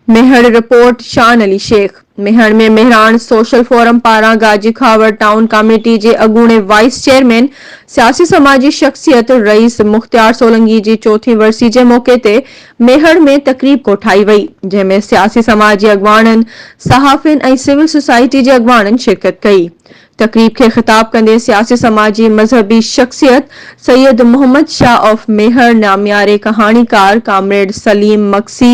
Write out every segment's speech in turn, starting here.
Mehar, report, Shan Ali Shaikh, Mehar ۾ Mehran social forum پاران Gaji Khawar town committee جي اڳوڻي وائيس چيئرمين سياسي سماجي شخصيت رئيس مختيار سولنگي جي چوٿين ورسي جي موقعي تي ميهڙ ۾ تقريب ڪوٺائي وئي، جنهن ۾ سياسي سماج جي اڳواڻن، صحافين ۽ سول سوسائٽي جي اڳواڻن شرڪت ڪئي. تقريب کي خطاب ڪندي سياسي سماجي مذهبي شخصيت سيد محمد شاهه آف ميهڙ، نامياري ڪهاڻيڪار ڪامريڊ سليم مگسي،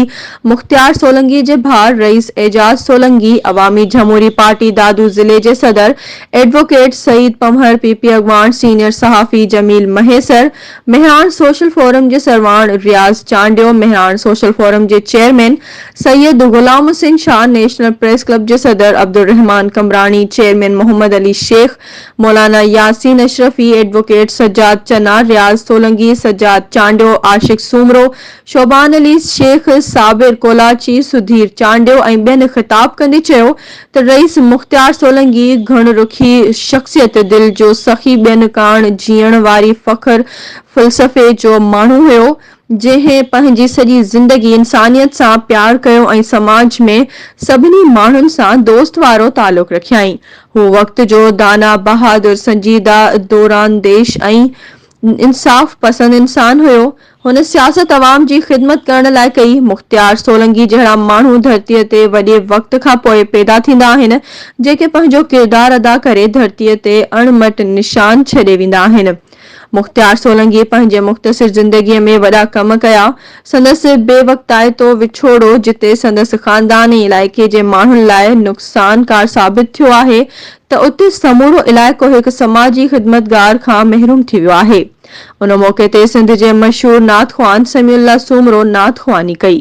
مختيار سولنگي جي ڀاء رئيس اعجاز سولنگي، عوامي جهموري پارٽي دادو ضلعي جي صدر advocate Saeed Panhwar, P P اڳواڻ سينيئر صحافي جميل مهيسر، مهراڻ سوشل فورم جي سرواڻ رياض چانڊيو، مهراڻ سوشل فورم جي chairman Syed Ghulam Hussain Shah, national press club جي صدر عبدالرحمان قمبراڻي، چيئرمين محمد علي شيخ، مولانا ياسين اشرفي، ايڊووڪيٽ سجاد چنا، رياض سولنگي، سجاد چانڊيو، عاشق سومرو، شعبان علي شيخ، صابر ڪولاچي، سڌير چانڊيو ۽ ٻين خطاب ڪندي چيو ته رئيس مختيار سولنگي گهڻ رخي شخصيت، دل جو سخي، ٻين ڪاڻ جيئڻ واري فخر فلسفي جو ماڻهو هيو، جنهن پنهنجي سڄي زندگي انسانيت سان پيار ڪيو ۽ سماج ۾ سڀني ماڻهن سان دوست وارو تعلق رکيائين. هو وقت جو دانا، بهادر، سنجيده، دورانديش ۽ انصاف پسند انسان هيو. هن سياست عوام جي خدمت ڪرڻ لاء ڪئي. مختيار سولنگي جهڙا ماڻهو ڌرتيء تي وڏي وقت کان پوء پيدا ٿيندا آهن، جيڪي پنهنجو ڪردار ادا ڪري ڌرتيء تي اڻ مٽ نشان ڇڏي ويندا آهن. مختيار سولنگي پنهنجي مختصر زندگيء ۾ وڏا ڪم ڪيا. سندس بي وقتائتو وڇوڙو جتي سندس خاندان ۽ علائقي جي ماڻهن لاء نقصانڪار ثابت ٿيو آهي ته اتي سمورو علائقو هڪ سماجي خدمتگار کان محروم ٿي ويو آهي. ان موقعي تي سنڌ جي مشهور نعت خوان سميع الله سومرو نعت خواني ڪئي.